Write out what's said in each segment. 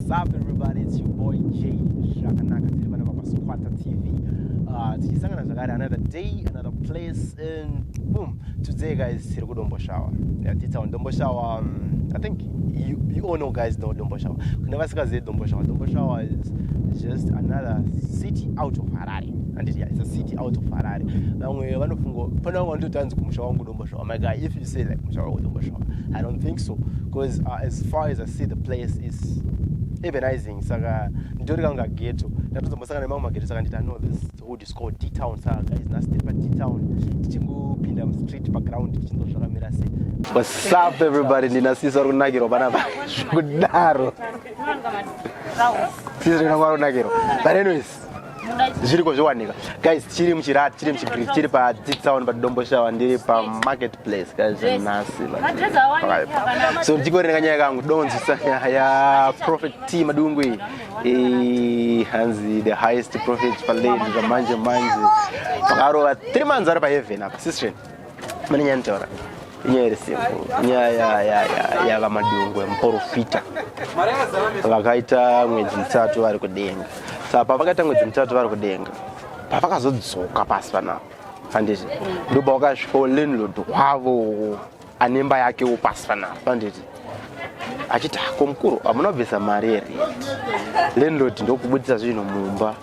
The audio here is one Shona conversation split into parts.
What's everybody, it's your boy J Zvakanaka tiri vana vapa Squatter TV uh, tichisangana zvakare another day another place and boom today guys tiri kudombo shower yeah, titsa on dombo shower um, I think you, you all know guys know dombo shower kune vasikazive dombo shower dombo shower is just another city out of Harare and yeah, it's a city out of Harare vamwe vanofungo pana wangu wandotanzi kumusha wangu Domboshawa. My guy, if you say like Mushawa or Domboshawa, I don't think so. Because uh, as far as I see, the place is urbanizing. Saka, nditori kanga ghetto. Ndatozo mbosanga nemamwe maghetto saka ndita know this hood is called D-Town. Saka guys, nasty pa D-Town. Tichingopinda mu street pa ground tichindo zvakamira sei. What's up everybody? Ndina sisi vari kunakirwa pana kudaro. Sisi rinongwa kunakirwa. But anyways, zviriko zvowanika guys chiri muchirat chiri muchigri chiri padzitsaon padombo shawa ndiri pamarket place guys nhasi so ndichikorenga nyaya kangu donzisa ya prophet t madungu iyi hanzi the highest prophet palady zvamanje manje pakarova three months ari paheaven apa sistren mune nyaya nitaura inyaya iri simple nyaya yavamadungwe muporofita vakaita mwedzi mitatu vari kudenga saka pavakaita mwedzi mitatu vari kudenga pavakazodzoka pasi panapa handiti ndoba wakasvikawo landlord wavo anemba yakewo pasi panapa handiti achiti hako mukuru hamuna kubvisa mari here landlord ndokubudisa zvinhu mumba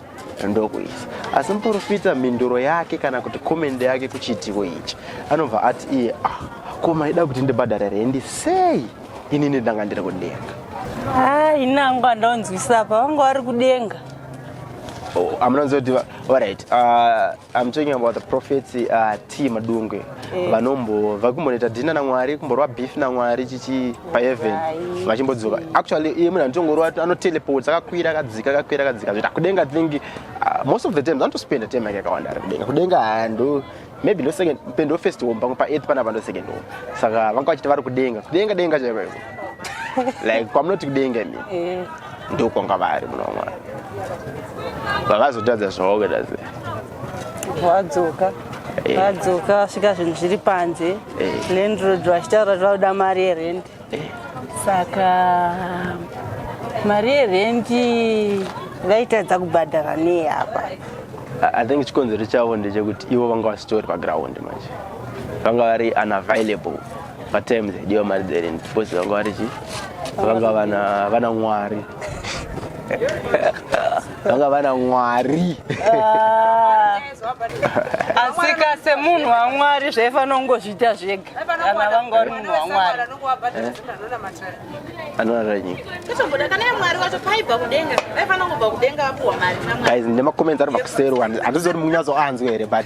ndokuisa asi muprofita mhinduro yake kana kuti comment yake kuchiitiko ichi anobva ati iye ah, ko maida kuti ndibhadhare rendi sei inini ndanga ndiri kudenga ah, ini angu andonzwisa apa vanga vari kudenga oh, amunonzwa kuti orit ah, I'm talking about the prophets uh, T Madungwe eh. vanombo vakumbonoita dina naMwari kumborwa beef naMwari chichi paheaven vachimbodzoka actually iye munhu anotongorwa anoteleport akakwira akadzika akakwira akadzika zvoita kudenga think uh, most of the times anotospenda time yake yakawanda ari kudenga kudenga hando maybe ndo second pendo first home pamwe paearth panapa ndo second home saka vanga vachiti vari kudenga kudenga denga chaiko iko like kwamunoti kudenga imi eh. ndokwanga vari muna mwari vakazotadza zvavaoda ze vadzoka eh. vadzoka vasvika zvinhu zviri panze eh. landrod vachitaura kuti vauda mari yerent eh. saka mari yerent vaitadza kubhadhara nei apa i think chikonzero chavo ndechekuti ivo vanga vasitori paground manje vanga vari unavailable Patime the dear married Ellen because vanga vari chi vanga vana vana mwari vanga vana mwari Ah. asika semunhu wamwari zvaifanira kungozviita zvega kana vanga vari munhu wamwari anorara nyika Kutomboda kana iye mwari wacho paibva kudenga vaifanira kubva kudenga vapuwa mari namwari guys nemacomments ari makusero handizoti mukunyatsoanzwa here but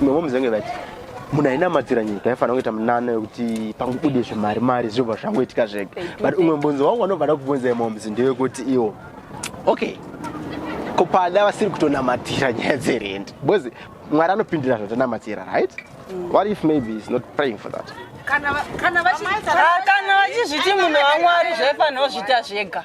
Imwe momzi vange vati munhu ainamatsira nyika aifanira kuita munana wekuti pangubude zvemari mari zvinobva zvangoitika zvega but umwe mbunzo wangu anobva da kubvunza imomzi ndewekuti iwo okay ko pada vasiri kutonamatira nyaya dzerendi because mwari anopindira zvatonamatira right mm. what if maybe is not praying for that kana vachizviti munhu wamwari zvaifanira kuzviita zvega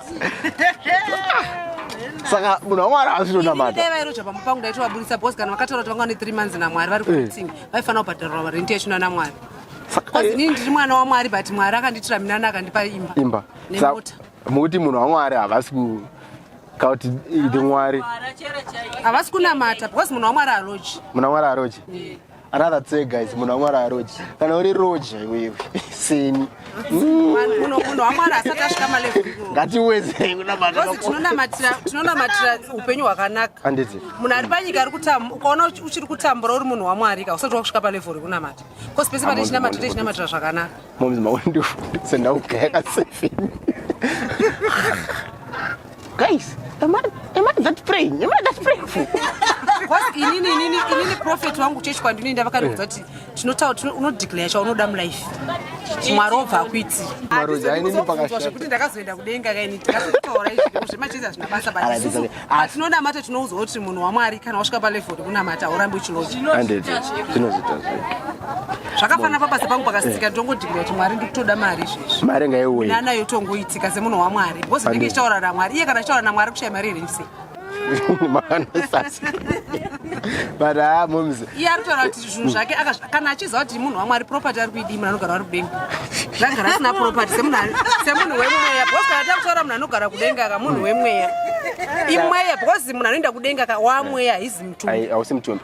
saka munhu wamwari haasi tonamata vairoja pamba pangu ndaitovaburitsa bcause kana vakataura kuti vanga vane three months namwari vari kuting eh. vaifanira kubhadharwa varenti yachina namwari bcause inini ndiri mwana wamwari but mwari akanditira minana akandipa imba imba nemota mukuti munhu wamwari havasi ku kauti ndi mwari havasi kunamata bcause munhu wamwari aroji munhu wamwari aroji eh. rather tse guys munhu wamwari aroji kana uri roja iwewe seni ngatiwezei kunamatiratinonamatira upenyu hwakanaka handiti munhu ari panyika ari kutambura ukaona uchiri kutambura uri munhu wamwari ka usati wakusvika palevo rekunamata bcause pese pane chinamato techinamatirwa zvakanaka momzi maundisendaugaya kasefini Guys, am I, am I that praying? Am I that praying for? Because inini inini inini prophet wangu church kwandini nda vakaridza kuti tinotaura tino unodeclare cha unoda mu life. Mwari obva akuiti. Mwari dai nini pakashata. Kuti ndakazoenda kudenga kaini ndakataura izvi zvema cheza zvina basa basi. But tinoda mata tinoudzwa kuti munhu waMwari kana wasvika pa level kunamata urambe uchiloja. 100. Tinozita zve. zvakafanira pabasa pangu pakasitika ndongodhibira kuti mwari ndikutoda mari izvezvi mari ngaiuye nana yotongoitika semunhu wamwari because ndinge ichitaura namwari iye kana achitaura namwari kushaya mari here ndise but haa ah, moms iye ari kutaura kuti zvinhu zvake kana achiziva kuti munhu wamwari property ari kuidii munhu anogara ari kudenga zvagara asina property semunhu wemweya because kana takutaura munhu anogara kudenga ka munhu wemweya imweya because munhu anoenda kudenga ka wamweya hizi mutumbi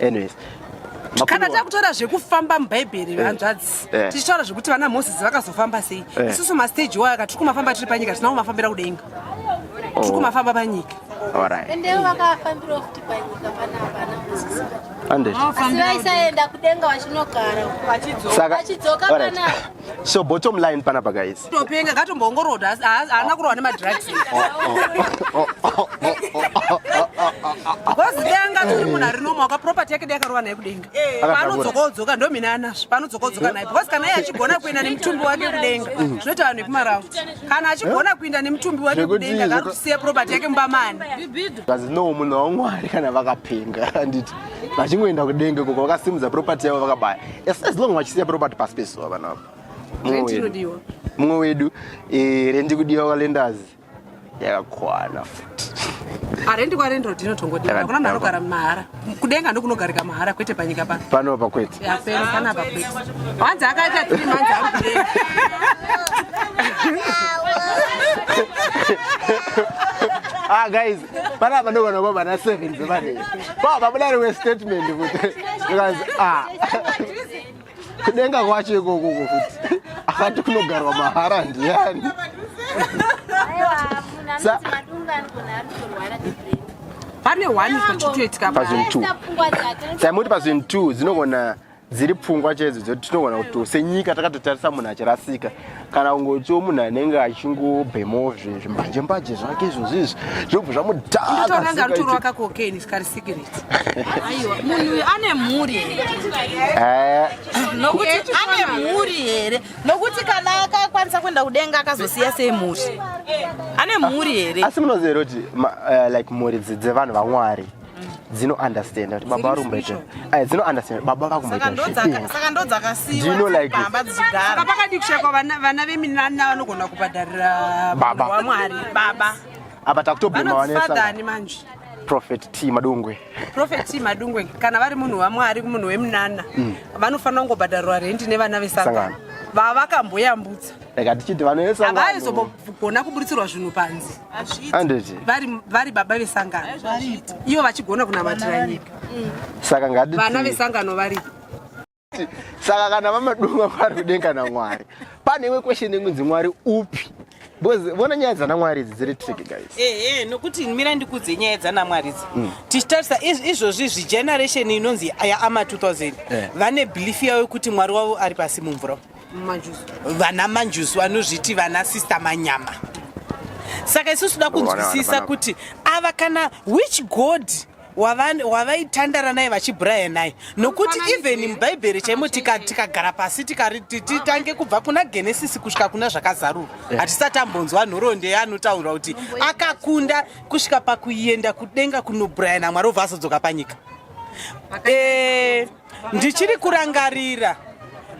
Anyways, kana takutora zvekufamba mubhaibheri eh, hanzvadzi eh. tichitaura zvekuti vana moses vakazofamba sei eh. isusu masteji wayo aka tiri kumafamba tiri panyika tinavo mafambira kudenga oh. tiri kumafamba panyika saka So bottom line pana pa guys. Topenga katombongoroda haana kurohwa ne madrugs. Because denga turi munhu ari normal ka property yake yakarohwa naye kudenga. Eh. Panodzoka odzoka ndo mina anazvo panodzoka odzoka naye because kana iye achigona kuenda nemutumbi wake kudenga zvinoita vanhu vekumarau. Kana achigona kuenda nemutumbi wake kudenga kana kusiya property yake mumba mani. Because no munhu waMwari kana vakapenga handiti vachingoenda kudenga koko vakasimudza property yavo vakabaya. Yes, as long vachisiya property pasi pezuva vana ava. Rent inodiwa. Mumwe wedu eh rent kudiwa kwa lenders. Yakakwana futi. Arendi kwa rent road inotongodiwa. Kuna mwana anogara mahara. Kudenga ndokunogarika mahara kwete panyika pano. Pano pa kwete. Ya peno kana pa kwete. Wanzi akaita 3 months ari kudenga. Ah guys Pana apa ndovana kwa vana 7 dzevane. Ba babuda rewe statement kuti because ah. Kudenga kwacho ikoko kuti akati kunogarwa mahara ndiyani. Sa pane one pachitoitika pazvinhu two. Saimoti pazvinhu two dzinogona dziri pfungwa chaidzo dzoti tinogona kuti senyika takatotarisa munhu achirasika kana kungotiwo munhu anenge achingobhemawo zvimbanje mbaje zvake izvo zvizvi zvinobva zvamudhakaanmhuri here nokuti kana akakwanisa kuenda kudenga akazosiya sei mhuri ane mhuri here asi munozero kuti eh, like mhuri dzevanhu vamwari dzino understand kuti baba vari kumbaita ai dzino understand baba vari kumbaita saka ndo dzakasiwa dzino like baba dzichigara saka pakati kushaka vana vana veminana vanogona kubhadharira baba wa mwari baba apa takutoblema vanesa father ni manje prophet t madungwe prophet t madungwe kana vari munhu wa mwari munhu weminana mm. vanofanira kungobhadharwa rent nevana vesangano vavakamboyambutsa like atichiti vanoesa havaizombogona kuburitsirwa zvinhu panzi vari baba vesangano ivo vachigona kunamatira nyika mm. saka ngati vana vesangano varipo saka kana vamadunga vari kudenga namwari pane imwe question ingunzi mwari upi because vona nyaya dzanamwari idzi dziri trick guys ehe eh, nokuti mira ndikudze nyaya dzanamwari idzi mm. tichitarisa izvozvi zvigeneration inonzi yaama 2000 eh. vane belief yavo yekuti mwari wavo ari pasi mumvura vana manjusu vanozviti vana sister manyama saka isusu da kunzwisisa kuti ava kana which god wavaitandara naye vachibraya naye nokuti even mubhaibheri chaimo tikagara pasi titange kubva kuna genesisi kusvika kuna zvakazarurwa hatisati ambonzwa nhoroondo yaanotaura kuti akakunda kusvika pakuenda kudenga kunobraya namwari obva azodzoka panyika eh, ndichiri kurangarira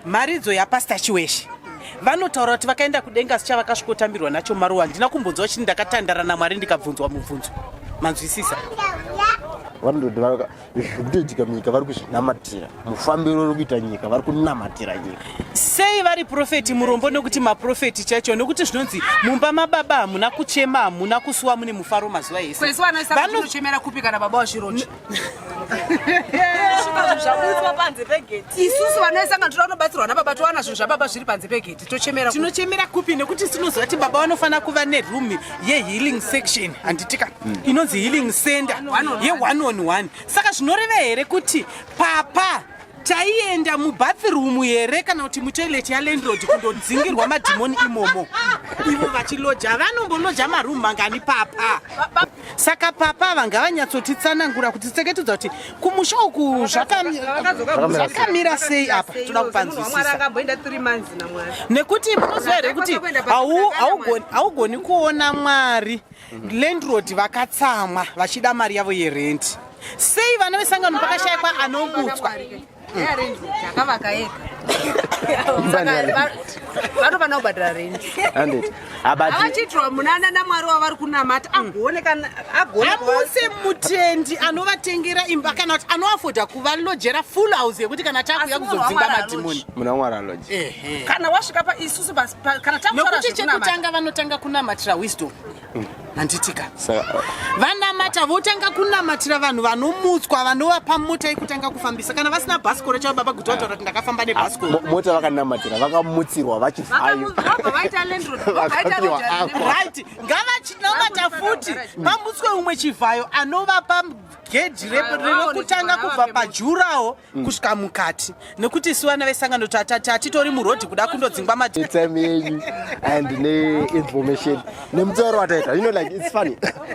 mharidzo yapastor chiweshe vanotaura kuti vakaenda kudenga asi chavakasvikotambirwa nacho maruwa handina kumbonzwa chini ndakatandara namwari ndikabvunzwa mubvunzo manzwisisa vanototi zviri kutoitika munyika vari kuzvinamatira mufambiro uri kuita nyika vari kunamatira nyika sei vari profeti murombo nekuti maprofeti chacho nekuti zvinonzi mumba mababa hamuna kuchema hamuna kusuwa mune mufaro mazuva ese vanochemera kupi kana baba wazvirochi zvakuiswa panze pegeti isusu vanoisanga tira unobatsirwa nababa towana zvinhu zvababa zviri panze pegeti tochemera tinochemera kupi nekuti tinoziva kuti baba vanofanira kuva neroom yehealing section handitika hmm. inonzi healing center yeone on one saka zvinoreva here kuti papa taienda mubathroom here kana kuti mutoilet yalandlord kundodzingirwa madhimoni imomo ivo vachiloja vanomboloja maroom mangani papa saka papa ava ngavanyatsotitsanangura kuti tseketudza kuti kumusha uku zvakamira sei apa toda kupanzwisisnekuti munoziva here kuti haugoni kuona mwari landrod vakatsamwa vachida mari yavo yerenti sei vana vesangano pakashayikwa anobutswa akavaka ega vanofanira kubhadhara rendi avachiitirwa munana namwari wavari kunamata agoneaamusi mutendi anovatengera imba kana kuti anoafodha kuvalojera full house yekuti kana takuya kuzodzinga madhimoni munamwari aloje kana wasvika paisusu kana takuti chekutanga vanotanga kunamatira wisdom handitika uh, vanamata votanga kunamatira vanhu vanomutswa vanova pamota yekutanga kufambisa kana vasina bhasikoro chavo baba guti vataura kuti ndakafamba nebhasikoro ah, mota vakanamatira vakamutsirwa vachivhayo ngavachinamata futi pamutswe umwe chivhayo anovapa gedhi rinokutanga kubva pajurawo mm. kusvika mukati nekuti isu vana vesangano tatati hatitori murodhi kuda kundodzingwa matime enyu and neinformation nemutauro wataita you know like its funny